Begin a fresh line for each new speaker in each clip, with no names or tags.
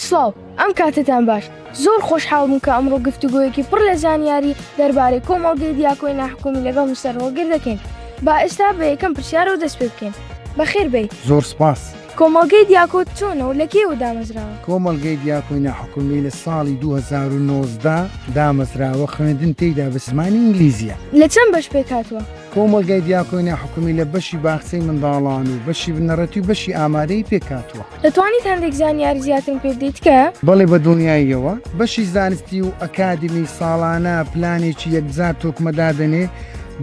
سڵاو، ئەم کاتەتان باش. زۆر خۆشحاڵ بووم کە ئەمڕۆ گفتوگۆیەکی پڕ لە زانیاری دەربارەی کۆمەڵگەی دیاکۆی ناحکومی لەگەڵ مستەر هۆڵگر دەکەین. با ئێستا بە یەکەم پرسیارەوە دەست پێ بکەین. بەخێر بێیت. زۆر سپاس. کۆمەڵگەی دیاکۆ چۆنە و لە کێوە دامەزراوە؟ کۆمەڵگەی دیاکۆی ناحکومی لە ساڵی دوو هەزار و نۆزدە دامەزراوە، خوێندن تێیدا بە زمانی ئینگلیزییە. لە چەند بەش پێک هاتووە؟ کۆمەڵگای دیاکۆی ناحکومی لە بەشی باخچەی منداڵان و بەشی بنەڕەتی و بەشی ئامادەیی پێک هاتووە. دەتوانیت هەندێک زانیاری زیاترم پێ بدەیت تکایە؟ بەڵێ بە دڵنیاییەوە بەشی زانستی و ئەکادمی ساڵانە پلانێکی یەکجار تۆکمە دادەنێ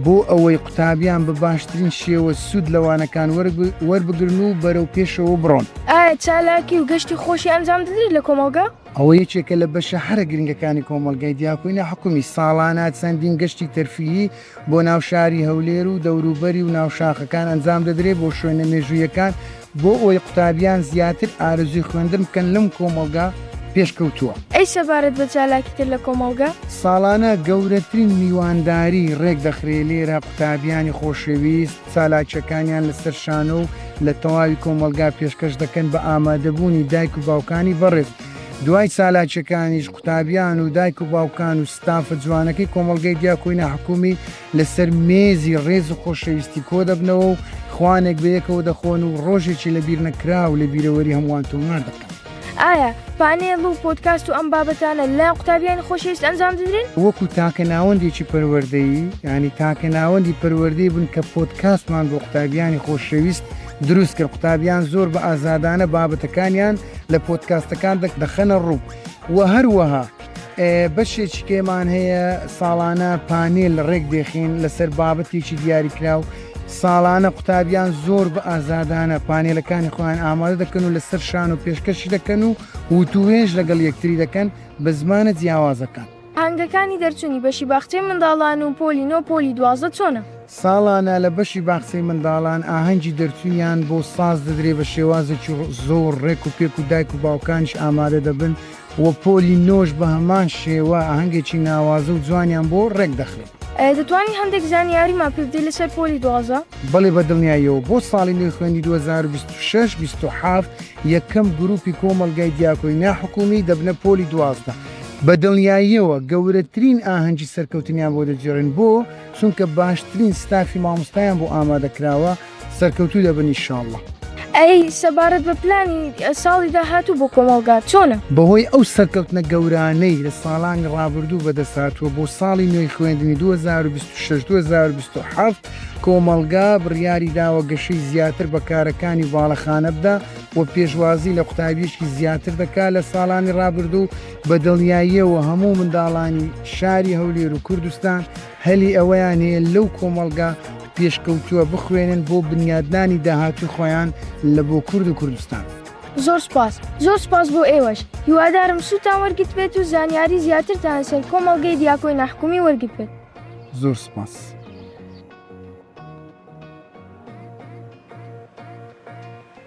بۆ ئەوەی قوتابیان بە باشترین شێوە سوود لە وانەکان وەربگرن و بەرەو پێشەوە بڕۆن. ئایا چالاکی و گەشتی خۆشی ئەنجام دەدریت لە کۆمەڵگا؟ ئەوە یەکێکە لە بەشە هەرە گرنگەکانی کۆمەڵگای دیاکۆی ناحکومی، ساڵانە چەندین گەشتی تەرفیهی، بۆ ناو شاری هەولێر و دەوروبەری و ناو شاخەکان ئەنجام دەدرێت بۆ شوێنە مێژوویەکان بۆ ئەوەی قوتابیان زیاتر ئارەزووی خوێندن بکەن لەم کۆمەڵگا پێشکەوتووە. ئەی سەبارەت بە چالاکی تر لە کۆمەڵگە؟ ساڵانە گەورەترین میوانداری ڕێکدەخرێت لێرە قوتابیانی خۆشەویست چالاکیەکانیان لەسەر شانۆ و لە تەواوی کۆمەڵگا پێشکەش دەکەن بە ئامادەبوونی دایک و باوکانی بەڕێز دوای چالاکیەکانیش قوتابیان و دایک و باوکان و ستافە جوانەکەی کۆمەڵگەی دیاکۆی ناحکومی لەسەر مێزی ڕێز و خۆشەویستی کۆدەبنەوە و خوانێک بەیەکەوە دەخۆن و ڕۆژێکی لەبیرنەکراو لە بیرەوەری هەمووان تۆمار دەکەن. ئایا پانێڵ و پۆدکاست و ئەم بابەتانە لە قوتابیانی خۆشەویست ئەنجام دەدرێن؟ وەکو تاکە ناوەندێکی پەروەردەیی، یانی تاکە ناوەندی پەروەردەی بوون کە پۆدکاستمان بۆ قوتابیانی خۆشەویست دروست کرد، قوتابیان زۆر بە ئازادانە بابەتەکانیان لە پۆدکاستەکان دەخەنە ڕوو و هەروەها. بەشێکی کێمان هەیە ساڵانە پانێل ڕێک دێخین لەسەر بابەتێکی دیاریکراو ساڵانە قوتابیان زۆر بە ئازادانە پانێلەکانی خۆیان ئامادە دەکەن و لەسەر شان و پێشکەشی دەکەن و وتوێژ لەگەڵ یەکتری دەکەن بە زمانە جیاوازەکان هەنگەکانی دەرچوونی بەشی باخچەی منداڵان و پۆلی نۆ پۆلی دوازە چۆنە؟ ساڵانە لە بەشی باخچەی منداڵان ئاهەنگی دەرچوویان بۆ ساز دەدرێ بە شێوازێکی زۆر ڕێک و پێک و دایک و باوکانش ئامادە دەبن و پۆلی نۆش بە هەمان شێوە ئاهەنگێکی ناوازە و جوانیان بۆ ڕێک دەخرێت. دەتوانی هەندێک زانیاریمان پێ بدەی لەسەر پۆلی دوازدە؟ بەڵێ بە دڵنیاییەوە بۆ ساڵی نوێی خوێندنی دوو هەزار و بیست و شەش بیست و حەفت یەکەم گروپی کۆمەڵگای دیاکۆی ناحکومی دەبنە پۆلی دوازدە بە دڵنیاییەوە گەورەترین ئاهەنگی سەرکەوتنیان بۆ دەگێڕین بۆ چونکە باشترین ستافی مامۆستایان بۆ ئامادە کراوە سەرکەوتوو دەبن ئیشاڵڵە. ئەی سەبارەت بە پلانی ساڵی داهاتوو بۆ کۆمەڵگا چۆنە؟ بەهۆی ئەو سەرکەوتنە گەورانەی لە ساڵانی ڕابردوو بەدەستهاتووە بۆ ساڵی نوێی خوێندنی دوو هەزار و بیست و شەش دوو هەزار و بیست و حەڤت کۆمەڵگا بڕیاری داوە گەشەی زیاتر بە کارەکانی باڵەخانە بدا و پێشوازی لە قوتابیەکی زیاتر دەکا لە ساڵانی ڕابردوو بە دڵنیاییەوە هەموو منداڵانی شاری هەولێر و کوردستان هەلی ئەوەیان هەیە لەو کۆمەڵگا پێشکەوتووە بخوێنن بۆ بنیادنانی داهاتووی خۆیان لە بۆ کورد و کوردستان. زۆر سوپاس زۆر سوپاس بۆ ئێوەش هیوادارم سوتان وەرگتبێت و زانیاری زیاترتان لەسەر کۆمەڵگەی دیاکۆی ناحکومی وەرگتبێت. زۆر سوپاس.